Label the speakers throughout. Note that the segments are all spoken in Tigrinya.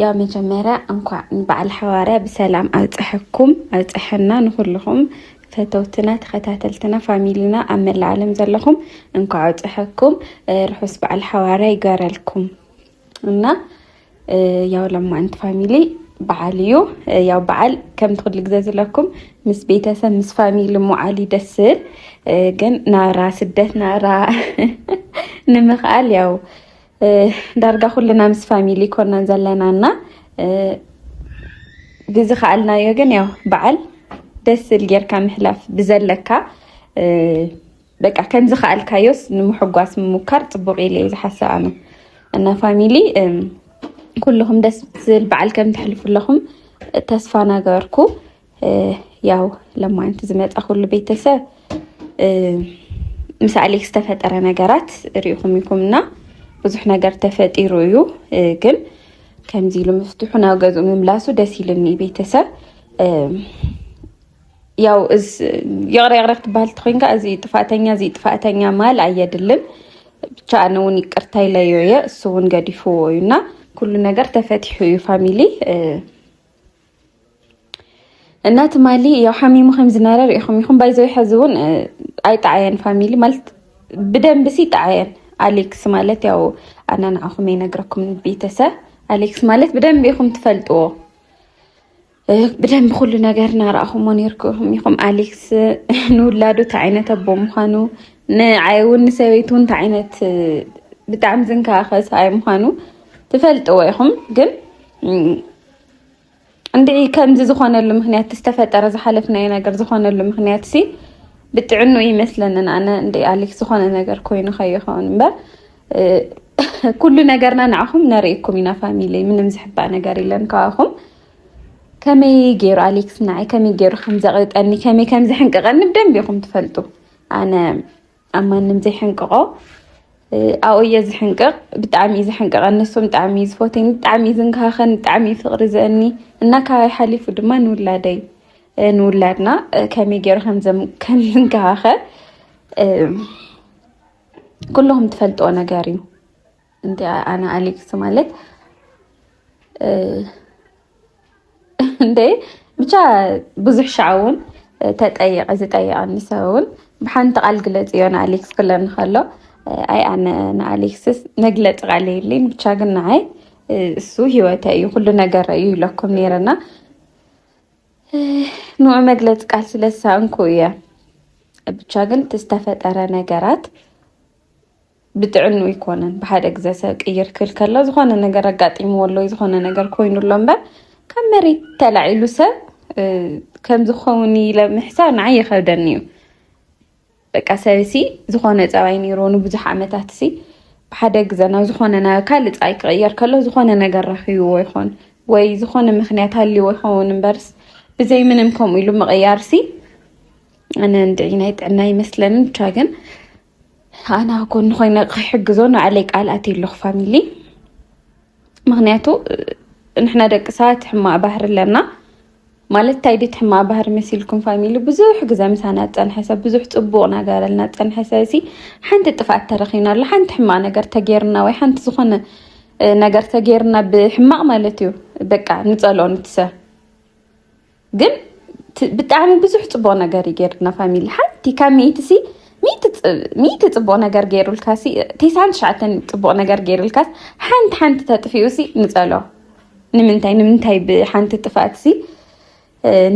Speaker 1: ያው መጀመርያ እንኳዕ ንበዓል ሓዋርያ ብሰላም ኣብፀሐኩም ኣብፀሐና ንኩልኹም ፈተውትና ተኸታተልትና ፋሚሊና ኣብ መላእ ዓለም ዘለኹም እንኳዕ ኣብፀሐኩም ርሑስ በዓል ሓዋርያ ይገረልኩም እና ያው ለማንት ፋሚሊ በዓል እዩ ያው በዓል ከምቲ ኩሉ ግዜ ዝለኩም ምስ ቤተሰብ ምስ ፋሚሊ ሞዓል ይደስል ግን ናብራ ስደት ናብራ ንምኽኣል ያው ዳርጋ ኩልና ምስ ፋሚሊ ኮናን ዘለና እና ብዝኸኣልናዮ ግን ያው በዓል ደስ ዝብል ጌርካ ምሕላፍ ብዘለካ በቃ ከም ዝኸኣልካዮስ ንምሕጓስ ምሙካር ፅቡቅ ኢለ እዩ ዝሓስብ ኣነ እና ፋሚሊ ኩልኹም ደስ ዝብል በዓል ከም ትሕልፉ ኣለኹም ተስፋ ናገበርኩ ያው ለማንት ዝመፃ ኩሉ ቤተሰብ ምስ ኣሌክስ ዝተፈጠረ ነገራት ሪኢኹም ኢኹም እና ብዙሕ ነገር ተፈጢሩ እዩ ግን ከምዚ ኢሉ ምፍትሑ ናብ ገዝኡ ምምላሱ ደስ ኢልኒ ቤተሰብ ያው ይቕረ ይቕረ ክትበሃል ተኮይንካ እዚ ጥፋእተኛ እዚ ጥፋእተኛ ማል ኣየድልን ብቻ ኣነ እውን ይቅርታ ኢለዮ እየ እሱ እውን ገዲፍዎ እዩ እና ኩሉ ነገር ተፈቲሑ እዩ ፋሚሊ እና ትማሊ ያው ሓሚሙ ከም ዝነበረ ሪኢኹም ኢኹም ባይዘ ሕዚ እውን ኣይጣዓየን ፋሚሊ ማለት ብደንብ ሲ ይጣዓየን ኣሌክስ ማለት ያው ኣና ንዓኹም ይነግረኩም ቤተሰብ ኣሌክስ ማለት ብደንብ ኢኹም ትፈልጥዎ ብደንብ ኩሉ ነገር እናረኣኹሞ ነርኩም ኢኹም ኣሌክስ ንውላዱ እንታይ ዓይነት ኣቦ ምዃኑ ንዓይ እውን ንሰበይቱ እንታይ ዓይነት ብጣዕሚ ዝንከባኸብ ሰብኣይ ምዃኑ ትፈልጥዎ ኢኹም ግን እንድዒ ከምዚ ዝኾነሉ ምኽንያት ዝተፈጠረ ዝሓለፍናዮ ነገር ዝኾነሉ ምኽንያት ሲ ብጥዕኑ ይመስለንን ኣነ እንደ ኣሌክስ ዝኾነ ነገር ኮይኑ ከይኸውን እምበር ኩሉ ነገርና ንዓኹም ነርእኩም ኢና ፋሚሊ ምንም ዝሕባእ ነገር የለን ካባኹም ከመይ ገይሩ ኣሌክስ ንዓይ ከመይ ገይሩ ከም ዘቕጠኒ ከመይ ከም ዝሕንቀቐኒ ብደንብ ኢኹም ትፈልጡ ኣነ ኣብ ማንም ዘይሕንቅቆ ኣብኡ እየ ዝሕንቅቕ ብጣዕሚ እዩ ዝሕንቅቐኒ ንሱም ብጣዕሚ እዩ ዝፎትኒ ብጣዕሚ እዩ ዝንከሃኸኒ ብጣዕሚ እዩ ፍቕሪ ዘእኒ እና ካባይ ሓሊፉ ድማ ንውላደይ ንውላድና ከመይ ገይሩ ከም ዝንከሃኸ ኩልኹም ትፈልጥዎ ነገር እዩ እንዲ ኣነ ኣሌክስ ማለት እንደ ብቻ ብዙሕ ሻዕ እውን ተጠየቀ ዝጠየቀኒ ሰብ እውን ብሓንቲ ቃል ግለፅ እዮ ንኣሌክስ ክለኒ ከሎ ኣይ ኣነ ንኣሌክስስ መግለፂ ቃል የለይን ብቻ ግን ንዓይ እሱ ሂወተ እዩ ኩሉ ነገር እዩ ይለኩም ነይረና ንዑ መግለፂ ቃል ስለሳእንኩ እየ ብቻ ግን ዝተፈጠረ ነገራት ብጥዕኑ ኣይኮነን ብሓደ ግዘ ሰብ ቅይር ክብል ከሎ ዝኾነ ነገር ኣጋጢምዎ ኣሎ ዝኾነ ነገር ኮይኑ ኣሎ እምበር ካብ መሬት ተላዒሉ ሰብ ከም ዝኸውን ኢለ ምሕሳብ ንዓይ ይኸብደኒ እዩ በቃ ሰብ ሲ ዝኾነ ፀባይ ነይሮ ንብዙሕ ዓመታት ሲ ብሓደ ግዘ ናብ ዝኾነ ናብ ካልእ ፀባይ ክቕየር ከሎ ዝኾነ ነገር ረኪብዎ ይኾን ወይ ዝኾነ ምክንያት ሃልዎ ይኸውን እምበርስ ብዘይ ምንም ከምኡ ኢሉ ምቕያር ሲ ኣነ እንድዒ ናይ ጥዕና ይመስለኒ ብቻ ግን ኣነ ኣብ ጎኑ ኮይነ ክሕግዞ ንባዕለይ ቃል ኣትየ ኣለኹ ፋሚሊ ምክንያቱ ንሕና ደቂ ሰባት ሕማቅ ባህሪ ኣለና ማለት እንታይ ድዩ ሕማቅ ባህሪ መሲልኩም ፋሚሊ ብዙሕ ግዘ ምሳና ዝፀንሐ ሰብ ብዙሕ ፅቡቅ ናገረልና ዝፀንሐ ሰብ እዚ ሓንቲ ጥፍኣት ተረኪብናሉ ሓንቲ ሕማቅ ነገር ተገይርና ወይ ሓንቲ ዝኮነ ነገር ተገይርና ብሕማቅ ማለት እዩ በቃ ንፀልኦ ንቲ ሰብ ግን ብጣዕሚ ብዙሕ ፅቡቅ ነገር እዩ ገይርልና ፋሚሊ ሓንቲ ካብ ሚእቲ ሲ ሚእቲ ፅቡቅ ነገር ገይሩልካ ሲ ቴሳን ትሽዓተን ፅቡቅ ነገር ገይሩልካ ሓንቲ ሓንቲ ተጥፊኡ ሲ ንፀሎ ንምንታይ ንምንታይ ብሓንቲ ጥፍኣት ሲ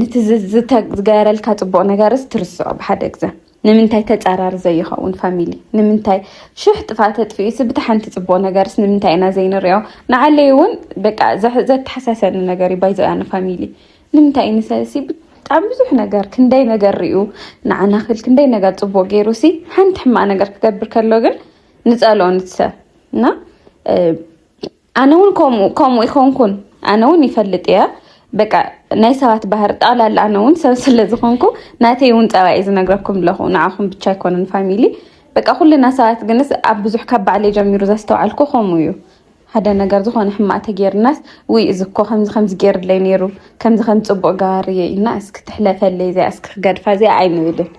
Speaker 1: ንቲ ዝገበረልካ ፅቡቅ ነገርስ ትርስዖ ብሓደ ግዘ ንምንታይ ተጻራሪ ዘይኸውን ፋሚሊ ንምንታይ ሽሕ ጥፋእ ተጥፊኡስ ብታ ሓንቲ ጽቡቅ ነገርስ ንምንታይ ኢና ዘይንሪኦ ንዓለይ እውን በቃ ዘተሓሳሰኒ ነገር እዩ ባይዘያ ንፋሚሊ ንምንታይ እዩ ንሰሲ ብጣዕሚ ብዙሕ ነገር ክንደይ ነገር ሪኡ ንዓና ክል ክንደይ ነገር ጽቡቅ ገይሩ ሲ ሓንቲ ሕማቅ ነገር ክገብር ከሎ ግን ንጸልኦ ንትሰብ እና ኣነ ውን ከምኡ ከምኡ ይኮንኩን ኣነ ውን ይፈልጥ እየ በቃ ናይ ሰባት ባህር ጣላል ኣነ ውን ሰብ ስለ ዝኾንኩ ናተይ ውን ፀባይ ዝነግረኩም ኣለኹ ንዓኹም ብቻ ኣይኮነን ፋሚሊ በቃ ኩልና ሰባት ግንስ ኣብ ብዙሕ ካብ ባዕለይ ጀሚሩ ዘስተውዓልኩ ከምኡ እዩ ሓደ ነገር ዝኾነ ሕማቅ ተጌርናስ ውይ እዚ እኮ ከምዚ ከምዚ ገይርለይ ነይሩ ከምዚ ከም ፅቡቅ ገባርየ ኢልና እስኪ ትሕለፈለይ እዚኣ እስኪ ክገድፋ እዚኣ ኣይንብልን።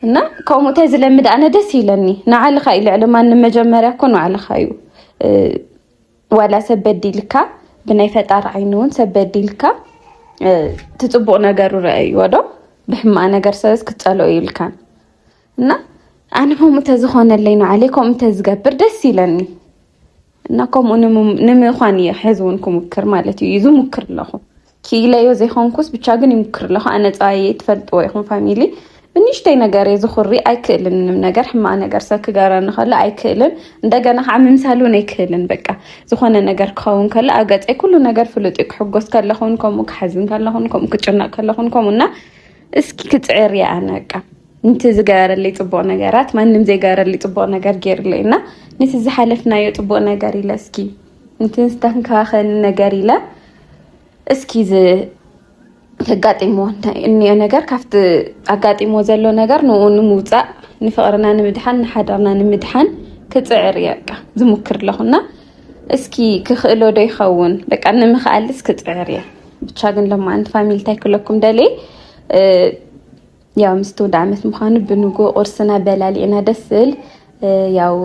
Speaker 1: እና ከምኡ እንታይ ዝለምድ ኣነ ደስ ይለኒ ንዓልኻ እዩ ልዕሊ ማንም መጀመርያ እኮ ንዓልኻ እዩ ዋላ ሰብ በዲልካ ብናይ ፈጣሪ ዓይኒ እውን ሰብ በዲልካ ትፅቡቅ ነገሩ ረኣይዎ ዶ ብሕማቅ ነገር ሰበዝ ክትፀልኦ ይብልካን እና ኣነ ከምኡ ተዝኾነለይ ንዓለይ ከምኡ ተዝገብር ደስ ይለኒ እና ከምኡ ንምዃን እየ ሕዚ እውን ክሙክር ማለት እዩ ይዙ ሙክር ኣለኹ ክኢለዮ ዘይኮንኩስ ብቻ ግን ይሙክር ኣለኹ ኣነ ፀባየ ትፈልጥዎ ይኹም ፋሚሊ ብንሽተይ ነገር እየ ዝኹሪ ኣይክእልን ምንም ነገር ሕማቅ ነገር ሰብ ክገረኒ ከሎ ኣይክእልን እንደገና ከዓ ምምሳል እውን ኣይክእልን በቃ ዝኾነ ነገር ክኸውን ከሎ ኣብ ገፀይ ኩሉ ነገር ፍሉጥ እዩ ክሕጎስ ከለኹን ከምኡ ክሓዝን ከለኹን ከምኡ ክጭነቅ ከለኹን ከምኡ እና እስኪ ክፅዕር እየ ኣነ በቃ ንቲ ዝገበረለይ ፅቡቅ ነገራት ማንም ዘይገበረለይ ፅቡቅ ነገር ገይሩለይ እና ነቲ ዝሓለፍናዮ ፅቡቅ ነገር ኢለ እስኪ ንቲ ዝተንከባኸኒ ነገር ኢለ እስኪ ተጋጢሞ እኒኦ ነገር ካብቲ ኣጋጢሞ ዘሎ ነገር ንኡ ንምውፃእ ንፍቅርና ንምድሓን ንሓዳርና ንምድሓን ክፅዕር እየ በቃ ዝሙክር ኣለኹና እስኪ ክኽእሎ ዶ ይኸውን በቃ ንምኽኣልስ ክፅዕር እየ ብቻ ግን ለማ ኣንቲ ፋሚሊ እንታይ ክለኩም ደልየ ያው ምስ ትውልዲ ዓመት ምዃኑ ብንጉ ቁርስና በላሊዕና ደስ ዝብል ያው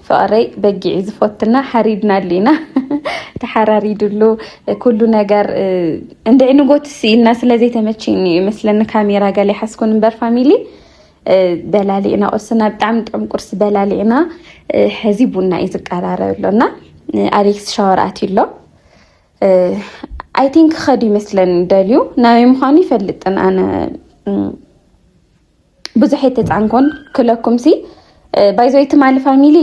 Speaker 1: ፍቕረይ በጊዕ ዝፎትና ሓሪድና ኣሊና ተሓራሪድሉ ኩሉ ነገር እንድዒ ንጎት ስኢልና ስለዘይተመችኒ እዩ መስለኒ ካሜራ ገለ ሓስኩን እምበር ፋሚሊ በላሊዕና ቁርስና ብጣዕሚ ጥዑም ቁርሲ በላሊዕና ሕዚ ቡና እዩ ዝቀራረብ ኣሎ እና ኣሌክስ ሻወር ኣትዩ ኣሎ ኣይቲን ክኸድ ይመስለን ደልዩ ናበይ ምዃኑ ይፈልጥን ኣነ ብዙሕ የተፃንኮን ክለኩም ሲ ባይዘይ ትማሊ ፋሚሊ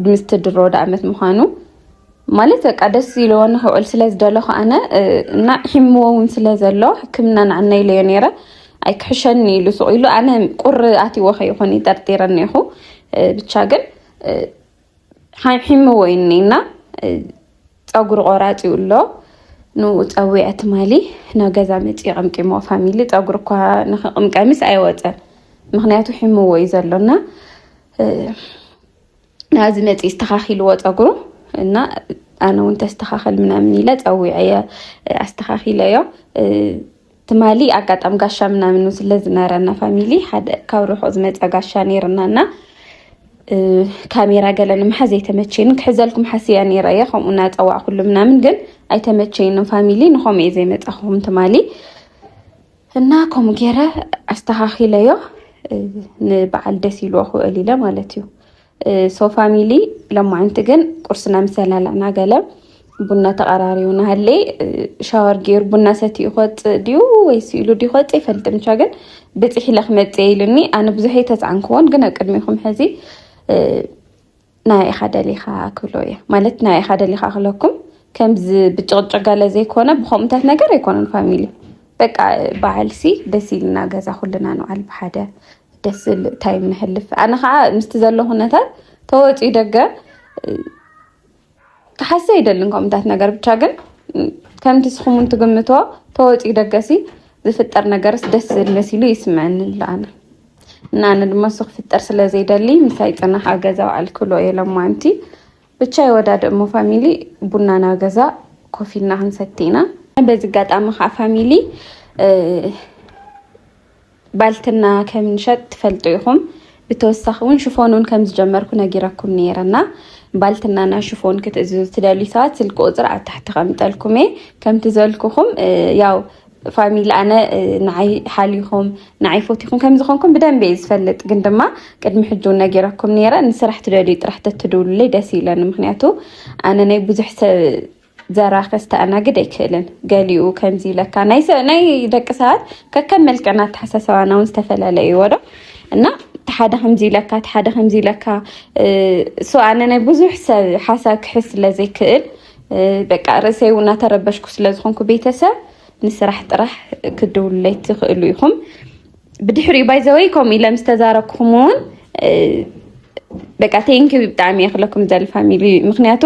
Speaker 1: ምስቲ ድሮ ወደ ዓመት ምዃኑ ማለት በቃ ደስ ኢለዎ ንክውዕል ስለ ዝደለኹ ኣነ እና ሒምዎ እውን ስለ ዘሎ ሕክምና ንዓና ኢለዮ ነይረ ኣይክሕሸኒ ኢሉ ስቑ ኢሉ ኣነ ቁሪ ኣትዎ ከይኾን ይጠርጢረኒ ይኹ ብቻ ግን ሓምሒምዎ እዩ እኒና ፀጉሪ ቆራፂ እዩ ኣሎ ንኡ ፀዊዐ ትማሊ ናብ ገዛ መፂ ቀምቂሞ ፋሚሊ ፀጉሪ እኳ ንክቅምቀሚስ ኣይወፀን ምክንያቱ ሒምዎ እዩ ዘሎና ናዚ መፂ ዝተካኪልዎ ፀጉሩ እና ኣነ እውን ተስተካከል ምናምን ኢለ ፀዊዐ ኣስተካኪለዮ ትማሊ ኣጋጣሚ ጋሻ ምናምን ውን ስለ ዝነበረና ፋሚሊ ሓደ ካብ ርሑቕ ዝመፀ ጋሻ ነይርና እና ካሜራ ገለ ንምሓዝ ኣይተመቸይንን ክሕዘልኩም ሓስያ ነይረ እየ ከምኡ እናፀዋዕኩሉ ምናምን ግን ኣይተመቸይንም ፋሚሊ ንኸምኡ እየ ዘይመፃኹም ትማሊ እና ከምኡ ገይረ ኣስተኻኺለዮ ንበዓል ደስ ኢልዎ ክውዕል ኢለ ማለት እዩ ሶ ፋሚሊ ለማዓንቲ ግን ቁርስና ምሰላላና ገለ ቡና ተቐራሪቡ ናሃለ ሻወር ገይሩ ቡና ሰትኡ ክወፅእ ድዩ ወይ ስኢሉ ድዩ ክወፅእ ይፈልጥም ቻ ግን ብፅሒ ኢለ ክመፅእ ኢሉኒ ኣነ ብዙሕ ኣይተፃዕንክዎን ግን ኣብ ቅድሚኹም ሕዚ ናይ ኢኻ ደሊኻ ክብሎ እየ ማለት ናይ ኢኻ ደሊኻ ክለኩም ከምዚ ብጭቕጭቕ ገለ ዘይኮነ ብከምኡታት ነገር ኣይኮነን ፋሚሊ በቃ በዓልሲ ደስ ኢልና ገዛ ኩልና ንውዓል ብሓደ ደስ ዝብል ታይም ንሕልፍ ኣነ ከዓ ምስቲ ዘሎ ኩነታት ተወፂኡ ደገ ክሓሰ ይደልን ከምታት ነገር ብቻ ግን ከምቲ ስኹምን ትግምቶ ተወፂኡ ደገሲ ዝፍጠር ነገርስ ደስ ዝብል መሲሉ ይስምዐኒ ኣለኣነ እና ኣነ ድማ እሱ ክፍጠር ስለዘይደሊ ምሳይ ፅናሕ ኣብ ገዛ በዓል ክብሎ እየ ለማንቲ ብቻ ይወዳድእ እሞ ፋሚሊ ቡና ናብ ገዛ ኮፍ ኢልና ክንሰቲ ኢና። በዚ ኣጋጣሚ ከዓ ፋሚሊ ባልትና ከምንሸጥ ትፈልጡ ኢኹም። ብተወሳኺ እውን ሽፎን እውን ከም ዝጀመርኩ ነጊረኩም ነይረና ባልትናና ሽፎን ክትእዝዙ ትደልዩ ሰባት ስልኪ ቁፅሪ ኣብ ታሕቲ ከምጠልኩም እየ ከምቲ ዘልኩኹም ያው ፋሚሊ ኣነ ንዓይ ሓሊኹም ንዓይ ፎቲኹም ከም ዝኾንኩም ብደንብ እየ ዝፈልጥ ግን ድማ ቅድሚ ሕጂ እውን ነጊረኩም ነይረ ንስራሕ ትደልዩ ጥራሕ ተትድውሉለይ ደስ ይብለኒ ምክንያቱ ኣነ ናይ ብዙሕ ሰብ ዘራ ከስተኣናግድ ኣይክእልን ገሊኡ ከምዚ ይብለካ ናይ ደቂ ሰባት ከከም መልክዕና ኣተሓሳሰባና እውን ዝተፈላለየ እዩዎ ዶ እና ሓደ ከምዚ ይብለካ ሓደ ከምዚ ይብለካ ሶ ኣነ ናይ ብዙሕ ሰብ ሓሳብ ክሕዝ ስለዘይክእል በቃ ርእሰይ እውን እናተረበሽኩ ስለዝኾንኩ ቤተሰብ ንስራሕ ጥራሕ ክድውሉለይ ትኽእሉ ኢኹም። ብድሕሪኡ ባይዘወይ ከምኡ ኢለ ምስ ተዛረብኩም እውን በቃ ቴንኪ ብጣዕሚ እየ ክለኩም ዘል ፋሚሊ ምክንያቱ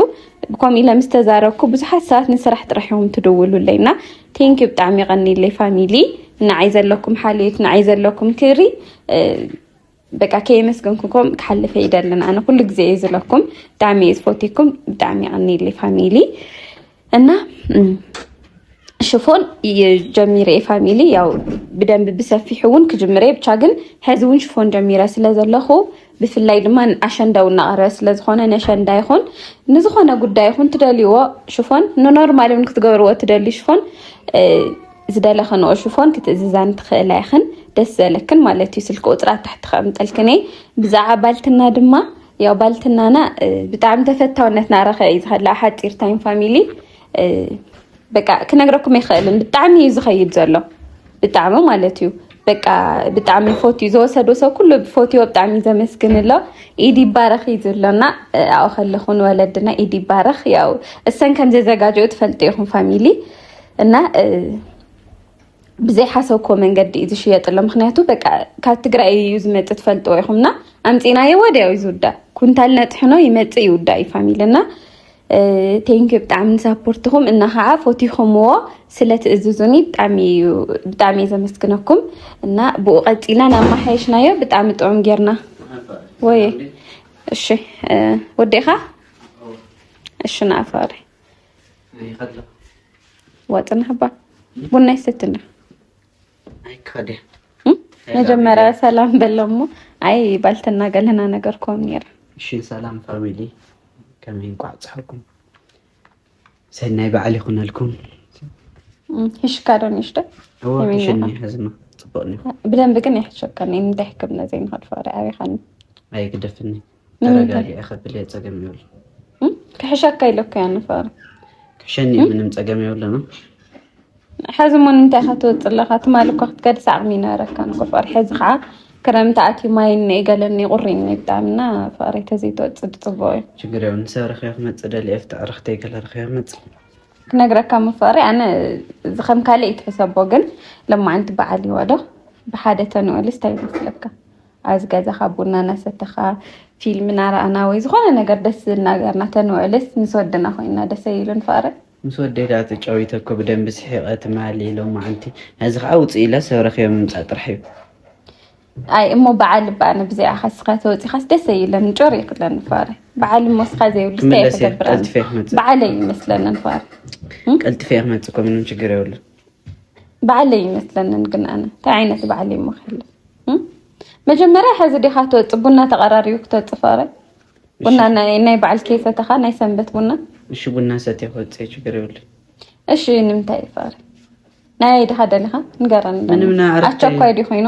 Speaker 1: ከምኡ ኢለ ምስ ተዛረብኩ ብዙሓት ሰባት ንስራሕ ጥራሕ እዮም ትድውሉለይ እና ቴንኪ ብጣዕሚ ቀኒለይ ፋሚሊ ንዓይ ዘለኩም ሓልዮት ንዓይ ዘለኩም ክብሪ በቃ ከየመስገንኩኩም ክሓልፈ ይደልን ኣነ ኩሉ ግዜ እዩ ዝለኩም ብጣዕሚ እዩ ዝፈትኩም ብጣዕሚ ይቀኒሊ ፋሚሊ እና ሽፎን ጀሚረ ፋሚሊ ያው ብደንብ ብሰፊሑ እውን ክጅምረ ብቻ ግን ሕዚ እውን ሽፎን ጀሚረ ስለ ዘለኹ ብፍላይ ድማ ኣሸንዳው እናቐረበ ስለዝኾነ ነሸንዳ ይኹን ንዝኾነ ጉዳይ ይኹን ትደልይዎ ሽፎን ንኖርማል እውን ክትገብርዎ ትደልዩ ሽፎን ዝደለኽንኦ ሽፎን ክትእዝዛኒ ትኽእላ ኢኽን ደስ ዘለክን ማለት እዩ ስልኪ ቁፅሪ ኣብ ታሕቲ ከቕምጠልክን እየ ብዛዕባ ባልትና ድማ ያው ባልትናና ብጣዕሚ ተፈታውነት ናረኸ እዩ ዝኸላ ሓፂር ታይም ፋሚሊ በቃ ክነግረኩም ኣይኽእልን ብጣዕሚ እዩ ዝኸይድ ዘሎ ብጣዕሚ ማለት እዩ በቃ ብጣዕሚ ፎት እዩ ዘወሰዶ ሰብ ኩሉ ብፎትዮ ብጣዕሚ እዩ ዘመስግን ኣሎ ኢድ ይባረኽ እዩ ዝብሎና ኣብኡ ከለኹ ንወለድና ኢድ ይባረኽ ያው እሰን ከም ዘዘጋጀኡ ትፈልጡ ኢኹም ፋሚሊ እና ብዘይ ሓሰብኮ መንገዲ እዩ ዝሽየጥሎ ምክንያቱ በቃ ካብ ትግራይ እዩ ዝመፅ ትፈልጥ ወይኹምና ኣምፂናዮ ወዲያው እዩ ዝውዳእ ኩንታል ነጥሕኖ ይመፅእ ይውዳእ እዩ ፋሚሊ እና ቴንኪ ብጣዕሚ ንሳፖርትኹም እና ከዓ ፎቲኹምዎ ስለ ትእዝዙኒ ብጣዕሚ እዩ ዘመስግነኩም እና ብኡ ቀፂልና ናብ ማሓየሽናዮ ብጣዕሚ ጥዑም ጌርና ወይ እሺ ወዴኻ እሺ ንኣፋሪ ዋጥናባ ቡና ይሰትና መጀመሪያ ሰላም በለሞ ኣይ ባልትና ገለና ነገር ኮም ነይራ እሺ ሰላም
Speaker 2: ፋሚሊ ከመይ እንኳዕ ፀሓኩም ሰናይ በዓል ይኹነልኩም
Speaker 1: ሂሽካ ዶ ንሽዶ
Speaker 2: ብደንብ ግን
Speaker 1: ይሕሸከኒ እንታይ ሕክምና ዘይንኸድፈ ሪዓሪኻኒ ኣይግደፍኒ
Speaker 2: ተረጋጊዐ ከብል ፀገም ይብሉ ክሕሸካ
Speaker 1: ኢለካ እያ ንፈሪ ክሕሸኒ
Speaker 2: ምንም ፀገም የብሉን
Speaker 1: ሕዚ እሞ ንምንታይ ኢኻ ትወፅእ ኣለኻ ትማሊ እኳ ክትገድስ ዓቕሚ ይነበረካ ንቁፈር ሕዚ ከዓ ክረምቲ ኣትዩ ማይ እኒ ገለኒ ቁሪኒ ብጣዕሚ እና ፈሪ ተዘይትወፅእ ፅቡቅ እዩ ችግር የብሉን ሰብ
Speaker 2: ረኺበ ክመፅእ ደልየ ፍትዕ ረኽተይ ገለ ረኺበ ክመፅእ ክነግረካ
Speaker 1: ምፈሪ ኣነ እዚ ከም ካልእ ይትሕሰቦ ግን ለማዓንቲ በዓል ይወዶ ብሓደ ተንኦልስ እንታይ ይመስለካ ኣብዚ ገዛኻ ቡና እናሰተኻ ፊልም እናረኣና ወይ ዝኾነ ነገር ደስ ዝብል ነገር እናተንውዕልስ ምስ ወድና ኮይና ደስ ኣይብልን ፍቕሪ ምስ ወደይ ደኣ
Speaker 2: ተጫዊተ እኮ ብደንቢ ስሒቐ ትማሊ ሎማዓንቲ ነዚ ከዓ ውፅእ ኢለ ሰብ ረኺበ ምምፃእ ጥራሕ እዩ ኣይ እሞ በዓል እባ ኣነ ብዘይዓ ከስኻ ተወፂኻስ ደስ ኣይብለኒ ጮር እዩ ክለኒ ፍቕሪ በዓል እሞ ስኻ ዘይብሉ ስታይ ክገብር በዓለይ ይመስለኒ ፍቕሪ ቀልጥፈ ክመፅእ እኮ ምንም ችግር የብሉን በዓል
Speaker 1: ኣይመስለንን ግን ኣነ እንታይ ዓይነት በዓል እዩ መክል መጀመርያ ሕዚ ዲካ ትወፅ ቡና ተቀራሪቡ ክተወፅ ፍቅረ ቡና ናይ በዓል ከይሰተካ ናይ ሰንበት ቡና እሺ ቡና ሰት
Speaker 2: ክወፅ ችግር ይብሉ እሺ
Speaker 1: ንምንታይ እዩ ፍቅረ ናይ ድካ ደሊካ ንገረኒ ምንም ኣቸኳይ
Speaker 2: ዲ ኮይኑ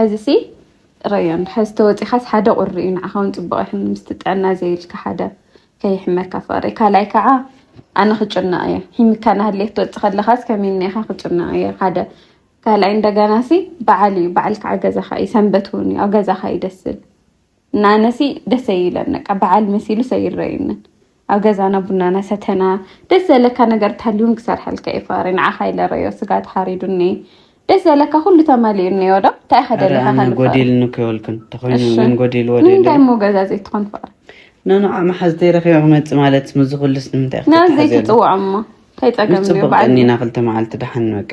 Speaker 1: ሕዚሲ ጥረዮ ሕዚ ተወጺኻስ ሓደ ቁሪ እዩ ንዓኻ ውን ጽቡቕ ኣይሕን ምስቲ ጥዕና ዘይብልካ ሓደ ከይሕመካ ፍቕሪ ካልኣይ ከዓ ኣነ ክጭነቕ እየ ሒምካ ናሃልየ ክትወጽእ ከለኻስ ከመይ ኢኻ ክጭነቕ እየ ሓደ ካልኣይ እንደገናሲ በዓል እዩ በዓል ከዓ ገዛኻ እዩ ሰንበት ውን እዩ ኣብ ገዛኻ እዩ ደስ ዝብል ናነሲ ደሰ ይለነቃ በዓል መሲሉ ሰይረይንን ኣብ ገዛና ቡናና ሰተና ደስ ዘለካ ነገር ታልዩን ክሰርሐልካ እዩ ፋሪ ንዓኻ ይለረዮ ስጋ ተሓሪዱኒ ደስ ዘለካ ኩሉ ተማሊኡ እኒኦ ዶ እንታይ ከደለካ ጎዲልኒ
Speaker 2: ከይበልክን ተኮይኑ ምን ጎዲል ወደ ንምንታይ እሞ ገዛ ዘይትኾን
Speaker 1: ፋሪ ነንዓ መሓዝ
Speaker 2: ተይረኪበ ክመፅእ ማለት ምዚ ኩሉስ ንምንታይ ናብ ዘይትፅውዖ እሞ
Speaker 1: ከይፀገምኒ በዓል እኒና ክልተ
Speaker 2: መዓልቲ ደሓን በቃ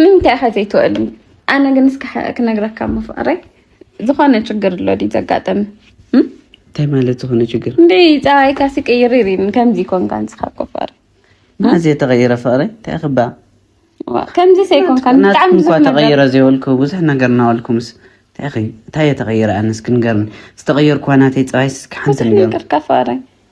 Speaker 2: ንምንታይ
Speaker 1: ኢኻ ዘይትውዕልን? ኣነ ግን እስከ ክነግረካ እሞ ፍቕረይ ዝኾነ ችግር ኣሎ ድዩ ዘጋጠመ? እንታይ
Speaker 3: ማለት ዝኾነ ችግር? እንደ ፀባይካሲ
Speaker 1: ቅይር ይሪን ከምዚ ኮንካ ንስኻ እኮ ፍቕሪ ማዘ
Speaker 3: ተቐይረ ፍቕሪ እንታይ ክባ ከምዚ
Speaker 1: ሰይኮንካ ብጣዕሚ ብዙሕ ነገር ተቐይረ ዘይበልኩ
Speaker 3: ብዙሕ ነገር እናበልኩምስ እንታይ እየ ተቐይረ? ኣነስ ክንገርኒ ዝተቐየርኩዋ ናተይ ፀባይስ ክሓንቲ ነገር ፍቕረይ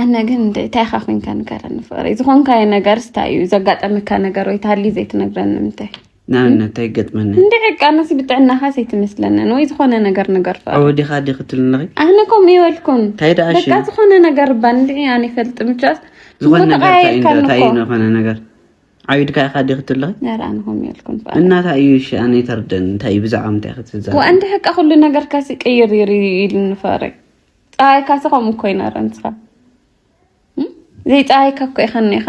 Speaker 1: ኣነ ግን እንታይ ኢኻ ኮንካ ንገረኒ ፍቕሪ ዝኾንካዮ ነገር ስታይ እዩ ዘጋጠመካ ነገር ወይ ታሊ ዘይትነግረኒ ምንታይ ንኣብነት እንታይ
Speaker 3: ገጥመኒ እንደ ዕቃ ነሲ
Speaker 1: ብጥዕናኻ ዘይትመስለንን ወይ ዝኾነ ነገር ነገር ወዲኻ ዲ ክትልንኺ
Speaker 3: ኣነ ከምኡ ይበልኩን
Speaker 1: እንታይ ደኣ በቃ ዝኾነ
Speaker 3: ነገር እባ
Speaker 1: እንድዒ ኣነ ይፈልጥ ምቻስ ዝኾነ ነገር
Speaker 3: እንታይ እዩ ዝኾነ ነገር ዓቢድካ ኢኻ ዲኺ ትብለኺ ኧረ ኣነ ከምኡ የልኩን
Speaker 1: ፋራ እና እንታይ እዩ እሺ ኣነ
Speaker 3: ይተርደን እንታይ እዩ ብዛዕባ ምንታይ ኢኺ ትዛረቢ ወኣንዲ ሕቃ ኩሉ ነገር
Speaker 1: ካሲ ቅይር ይር ኢሉኒ ፋረይ ፀሃይ ካሲ ከምኡ እኮ ይነረ ንስኻ ዘይፀሃይ ካብ ኮ ኢኸኒ ኢኻ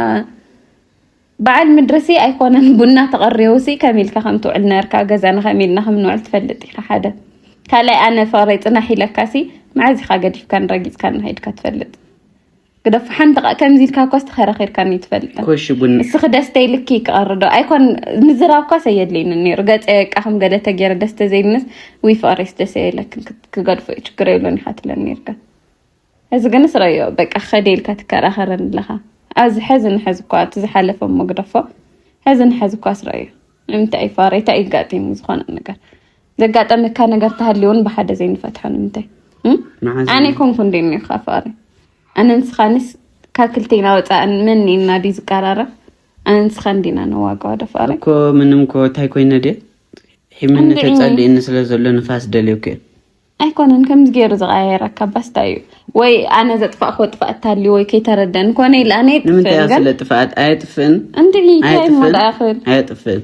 Speaker 1: በዓል ምድርሲ ኣይኮነን ቡና ተቐሪቡሲ ከም ኢልካ ከም ትውዕል ነርካ ገዛና ከም ኢልና ከም ንውዕል ትፈልጥ ኢኻ ሓደ ካልኣይ ኣነ ፋረይ ፅናሕ ኢለካሲ መዓዝ ኢኻ ገዲፍካን ረጊፅካን ሃይድካ ትፈልጥ ግደፍ ሓንቲ ቃ ከምዚ ኢልካ እኳስ ተኸራኺርካኒ ኣይትፈልጥን። ኮሽ ቡን እስኺ
Speaker 3: ደስተ ኢልኪ
Speaker 1: ክቐሪ ዶ ኣይኮን ምዝራብ እኳስ ኣየድልይኒ ነይሩ ገፀ በቃ ከም ገለ ተገይረ ደስተ ዘይምስ ውይ ፍቕሪስ ደስ የለክን ክት- ክገድፎ እዩ ችግር የብሎን ኢኻ ትብለኒ ነይርካ እዚ ግን ስረዮ በቃ ከደ ኢልካ ትከራኸረኒ ኣለኻ ኣብዚ ሕዚ ንሕዚ እኳ እቲ ዝሓለፈ እሞ ግደፎ ሕዚ ንሕዚ እኳ ስረዮ ንምንታይ ፋረይ እንታይ እዩ ጋጢሙ ዝኾነ ነገር ዘጋጠመካ ነገር ተሃልዩውን ብሓደ ዘይንፈትሖ ንምንታይ ኣነ ኮንኩ እንደ ኒኻ ፋረ ኣነ ንስኻንስ ካብ ክልተና ወፃእ መን እና ድዩ ዝቀራረብ ኣነ ንስኻ እንዲና ነዋጋዋ ደፋረ እኮ ምንም ኮ
Speaker 3: እንታይ ኮይነ ድየ ሒምነት ተፀሊእኒ ስለ ዘሎ ንፋስ ደልዮክ ኣይኮነን
Speaker 1: ከምዚ ገይሩ ዝቀያየረካ ባስታ እዩ ወይ ኣነ ዘጥፋእክዎ ጥፍኣት ታሊ ወይ ከይተረደን ኮነ ኢለ ኣነ ንምንታይ እያ ስለ ጥፍኣት
Speaker 3: ኣየጥፍእን እንዲ እንታይ እሞ
Speaker 1: ደኣ ክብል
Speaker 3: ኣየጥፍእን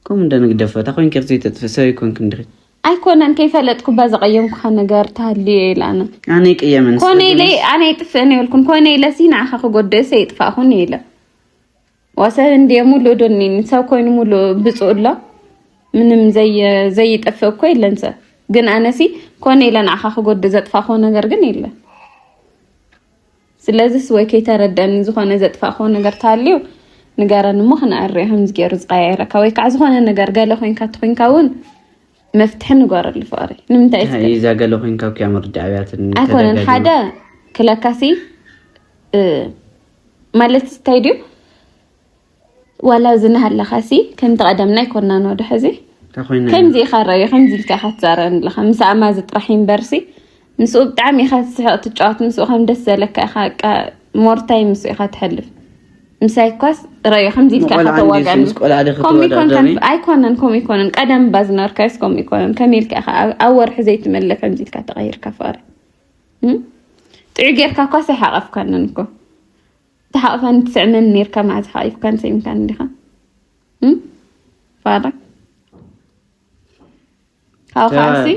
Speaker 3: ከምኡ እንደ ንግደፎ እታ ኮይንኪ ዘይተጥፍእ ሰብ ኣይኮንክ እንድኺ ኣይኮነን
Speaker 1: ከይፈለጥኩ ባ ዘቀየምኩካ ነገር ተሃልየ ኢለ ኣነ ኣነ ይቅየምን
Speaker 3: ኮነ ኢለ ኣነ
Speaker 1: ይጥፍእን የብልኩን ኮነ ኢለ ሲ ንዓኻ ክጎድእሰ ይጥፋእኹን ኢለ ወሰን እንዴ ሙሉ ዶኒ ሰብ ኮይኑ ሙሉ ብፁእ ኣሎ ምንም ዘይጠፍእ እኮ የለን ሰብ ግን ኣነሲ ኮነ ኢለ ንዓኻ ክጎድእ ዘጥፋእኮ ነገር ግን የለን ስለዚስ ወይ ከይተረደኒ ዝኾነ ዘጥፋእኮ ነገር ታልዩ ንገረን እሞ ክንዕርዮ ከምዚ ገይሩ ዝቀያየረካ ወይ ከዓ ዝኾነ ነገር ገለ ኮንካ ትኮንካ እውን መፍትሒ ንገረሉ ፍቅሪ ንምንታይ እዛ ገለ ኮንካ
Speaker 3: ኩያ ምርዳእ ኣብያትን ኣይኮነን ሓደ
Speaker 1: ክለካሲ ማለት እንታይ ድዩ ዋላ እዚ ናሃለኻ ሲ ከምቲ ቀደምና ኣይኮናን ወደ ሕዚ ከምዚ ኢኻ ረዮ ከምዚ ኢልካ ኢኻ ትዛረበኒ ኣለኻ ምስ ኣማዚ ጥራሕ እምበር ሲ ምስኡ ብጣዕሚ ኢኻ ትስሕቕ ትጫወት ምስኡ ከም ደስ ዘለካ ኢኻ በቃ ሞር ታይም ምስኡ ኢኻ ተሕልፍ ምሳይ እኳስ ረዮ ከምዚ ኢልካ ኢኻ ተዋጋኒ ከምኡ ይኮንካን ኣይኮነን ከምኡ ይኮነን ቀደም እባ ዝነበርካዮስ ከምኡ ይኮነን ከመይ ኢልካ ኢኻ ኣብ ወርሒ ዘይትመለ ከምዚ ኢልካ ተቐይርካ ፍቕሪ ጥዑይ ጌርካ እኳ ኣይሓቐፍካንን እኮ ተሓቕፋን ትስዕመን ኔርካ መዓዝ ሓቒፍካን ሰይምካን እንዲኻ ፋራ ካብኡ ከዓሲ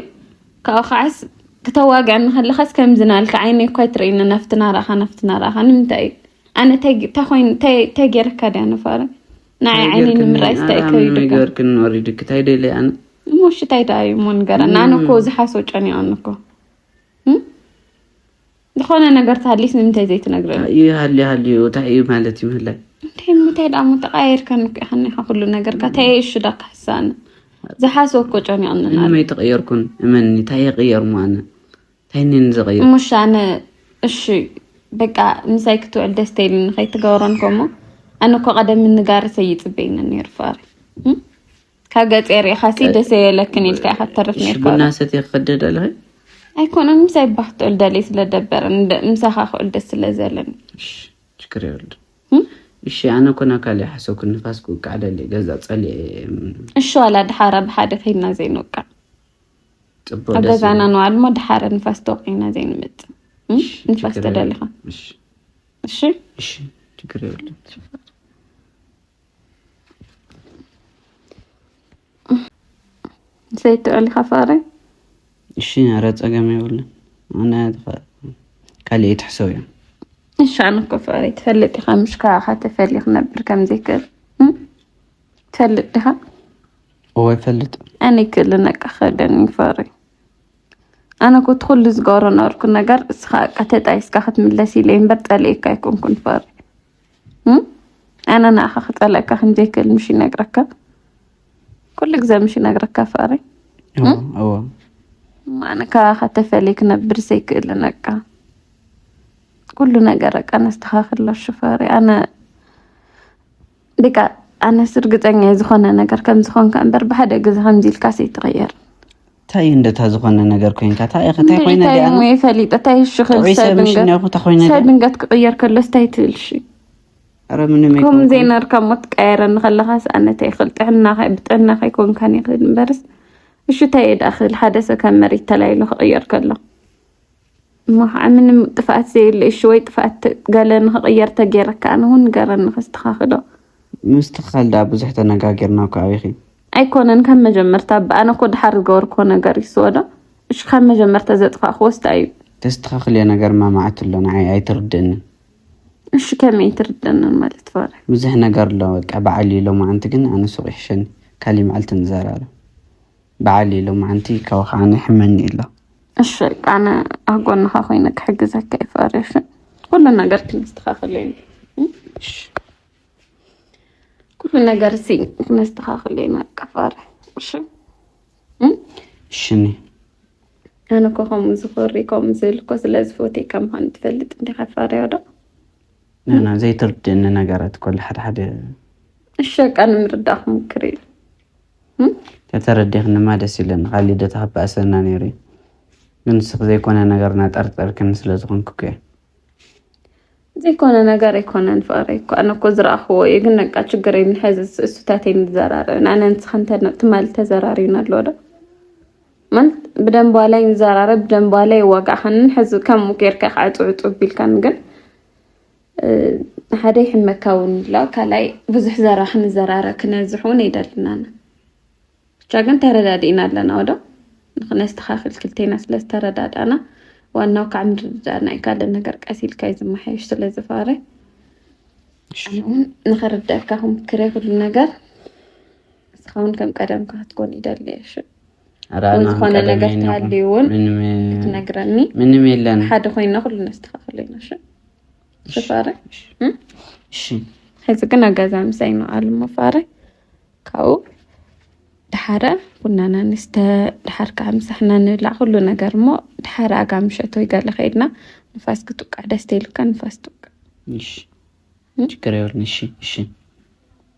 Speaker 1: ካብኡ ከዓስ ክተዋግዐኒ ከለኻስ ከምዚ ናልካ ዓይነይ እኳ ኣይትርእይኒ ናፍቲ ናራእኻ ናፍቲ ናራእኻ ንምንታይ እዩ ኣነ እንታይ ኮይኑ እንታይ ጌርካ ድያ ንፋረ ንዓይ ዓይነይ ንምርኣይ ስታይ ከይዱ ነገርክን ወሪድክ
Speaker 3: እንታይ ደልየ ኣነ እሞ ሽታይ ደኣ
Speaker 1: እዩ እሞ ንገረና ኣነ እኮ ዝሓሶ ጨኒቐኒ እኮ ዝኾነ ነገር ተሃሊስ ንምንታይ ዘይትነግረኒ? እዩ ሃልዩ ሃልዩ እንታይ
Speaker 3: እዩ ማለት እዩ ምህላይ እንታይ ምታይ ደኣ
Speaker 1: እሞ ተቀያይርካን እኮ ኢኻኒ ኢኻ ኩሉ ነገርካ እንታይ እየ እሹ ዳ ክሕሳኒ ዝሓስቦ እኮ ጨኒቕኒ ኣሎ። ምንም ኣይተቐየርኩን
Speaker 3: እመኒ እንታይ ይቕየር እሞ ኣነ እንታይ እኒ ንዘቐየር እሞ እሺ ኣነ
Speaker 1: እሺ በቃ ምሳይ ክትውዕል ደስ ተይልኒ ከይትገብሮን ኮሞ ኣነ እኮ ቀደም ንጋርሰይ ይፅበየኒ ነይሩ ፋሪ ካብ ገፀ ርኢኻሲ ደሰ የለክን ኢልካ ኢኻ ትተርፍ ነርካ ሽቡና ሰትየ ክኸደ ደለኺ
Speaker 3: ኣይኮነን
Speaker 1: ምሳይ ባህ ክትብል ደልየ ስለደበረ ምሳኻ ክእል ደስ ስለዘለኒ ችግር
Speaker 3: የብሉ እሺ ኣነ ኮና ካልእ ሓሰብኩ ንፋስ ክውቃዕ ደሊ ገዛ ፀልየ እሺ ዋላ
Speaker 1: ድሓረ ብሓደ ከይድና ዘይንውቃዕ ፅቡቅ ኣብ ገዛና ንዋል ሞ ድሓረ ንፋስ ተወቂዕና ዘይንመፅእ ንፋስ ተደሊኻ እሺ እሺ
Speaker 3: ችግር የብሉ
Speaker 1: ዘይትዕል ኢኻ ፍቕሪ
Speaker 3: እሺ ኧረ ፀገም የብሉን ኣነ ካልእ ትሕሰብ እዮም እሺ ኣነ
Speaker 1: እኮ ፍቕሪ ትፈልጥ ኢኻ ምሽ ካባኻ ተፈልየ ክነብር ከም ዘይክእል ትፈልጥ ዲኻ እወ
Speaker 3: ይፈልጥ ኣነ ይክእል ነቃ
Speaker 1: ከደኒ ፍቕሪ ኣነ እኮ እቲ ኩሉ ዝገብሮ ነበርኩ ነገር እስኻ በቃ ተጣይስካ ክትምለስ ኢለ እምበር ፀሊኤካ ኣይኮንኩን ፍቕሪ ኣነ ንኣኻ ክጸልእካ ከምዘይክእል ምሽ ይነግረካ ኩሉ ግዜ ምሽ ይነግረካ ፍቅሪ ኣነ ካባኻ ተፈልየ ክነብር ዘይክእል ነቃ ኩሉ ነገር ቃ ነስተኻክሎ ሽፈሪ ኣነ ደቃ ኣነስ እርግፀኛ ዝኾነ ነገር ከምዝኾንካ እምበር ብሓደ ግዜ ከምዚ ኢልካስ ኣይትቕየር እንታይ እዩ
Speaker 3: እንደታ ዝኾነ ነገር ኮይንካ እንታይ ኢኸ እንታይ ኮይነ እንታይ እሞ እየ ፈሊጠ እንታይ
Speaker 1: እሺ ጥዑይ ሰብ ምስ ክሰድንገት እኒኦኹ እንታይ ኮይነ ድኣ ሰድንገት ክቕየር ከሎስ እንታይ ትብል እሺ ኧረ ምንም ከምኡ
Speaker 3: ኣይኮንኩን ዘይነርካ እሞ
Speaker 1: ትቀየረኒ ከለኻስ ኣነ እንታይ ይኽእል ጥዕናኻ ብጥዕናኻ ኣይኮንካን ይኽእል እምበርስ እሺ እንታይ እየ ደኣ ክብል ሓደ ሰብ ካብ መሬት ተላዒሉ ክቕየር ከሎ እሞ ከዓ ምንም ጥፍኣት ዘየለ እሺ ወይ ጥፍኣት ገለ ንክቕየር ተገይረካ ኣነ እውን ንገረኒ ከስተኻኽሎ ምስትኽኻል
Speaker 3: ድኣ ብዙሕ ተነጋጊርና እኮ ኣቢኺ ኣይኮነን ካብ
Speaker 1: መጀመርታ እባ ኣነ እኮ ድሓር ዝገበርክዎ ነገር እዩ ስወዶ እሺ ካብ መጀመርታ ዘጥፋእክዎስ እንታይ እዩ ተስተኻኽልዮ ነገር
Speaker 3: ማማዓት ኣሎ ንዓይ ኣይትርድእንን እሺ
Speaker 1: ከመይ ኣይትርድእንን ማለት ፈረ ብዙሕ ነገር ኣሎ
Speaker 3: በቃ በዓል እዩ ሎማዓንቲ ግን ኣነ ሱቕ ይሕሸኒ ካሊእ መዓልቲ ንዘራረብ በዓል እዩ ሎማዓንቲ ካብኡ ከዓ ይሕመኒ ኣሎ እሺ ኣነ
Speaker 1: ኣብ ጎንኻ ኮይነ ክሕግዘካ እየ ፈርያ እሺ ኩሉ ነገር ክነስተኻኽል እየ እሺ ኩሉ ነገር እዚ ክነስተኻኽል እየ በቃ ፈርያ
Speaker 3: እሺ እሺ
Speaker 1: ኣነ እኮ ከምኡ ዝኮሪ ከምኡ ዝብል እኮ ስለ ዝፎትየ ከም ምኳኑ ትፈልጥ እንዲኻ ፈርያ ዶ ናና
Speaker 3: ዘይተርድእኒ ነገራት እኮ ሓደ ሓደ እሺ በቃ
Speaker 1: ንምርዳእ ክሙክር እዩ
Speaker 3: ተተረዲኽንማ ደስ ይብለኒ ካብ ልደታ ክበኣሰና ነይሩ እዩ ግን ንስኺ ዘይኮነ ነገር እናጠርጠርክኒ ስለ ዝኾንኩ እኮ
Speaker 1: ዘይኮነ ነገር ኣይኮነን ፍቅረይ እኮ ኣነ እኮ ዝረኣኽዎ እዩ ግን ነቃ ችግር የብልን ሕዚ እሱታተይ ንዘራረብ ንኣነ ንስኽን ትማሊ ተዘራሪብና ኣሎ ዶ ማለት ብደንብ ዋላይ ንዘራረብ ብደንብ ዋላይ ይዋጋእኻንን ሕዚ ከምኡ ጌርካ ዕፁ ዕፁ ቢልካን ግን ሓደ ይሕመካ እውን ኣሎ ካልኣይ ብዙሕ ዘራ ክንዘራረ ክነዝሕ እውን የደልናና ብቻ ግን ተረዳዲእና ኣለና ወዶ ንክነስተኻክል ክልቴና ስለ ዝተረዳዳእና ዋናው ካብ ምርድዳእና እዩ ካልእ ነገር ቀስ ኢልካ እዩ ዝመሓየሽ ስለ ዝፋረ እውን ንክርደእካ ክምክሬ ኩሉ ነገር እስኻ እውን ከም ቀደምካ ክትኮን ይደሊ እሺ ዝኾነ ነገር ተሃልዩ እውን ክትነግረኒ ምንም የለን
Speaker 3: ሓደ ኮይና ኩሉ
Speaker 1: ነስተካክል ኢና ሽፋረ
Speaker 3: ሕዚ ግን
Speaker 1: ኣገዛ ምሳይ ነው ኣሉ መፋረ ካብኡ ድሓረ ቡናና ንስተ ድሓር ከዓ ምሳሕና ንብላዕ ኩሉ ነገር እሞ ድሓረ ኣጋ ምሸቶ ይገለ ከይድና ንፋስ ክትውቃዕ ደስ ተይልካ ንፋስ ትውቃዕ
Speaker 3: ችግር የብልን እሺ እሺ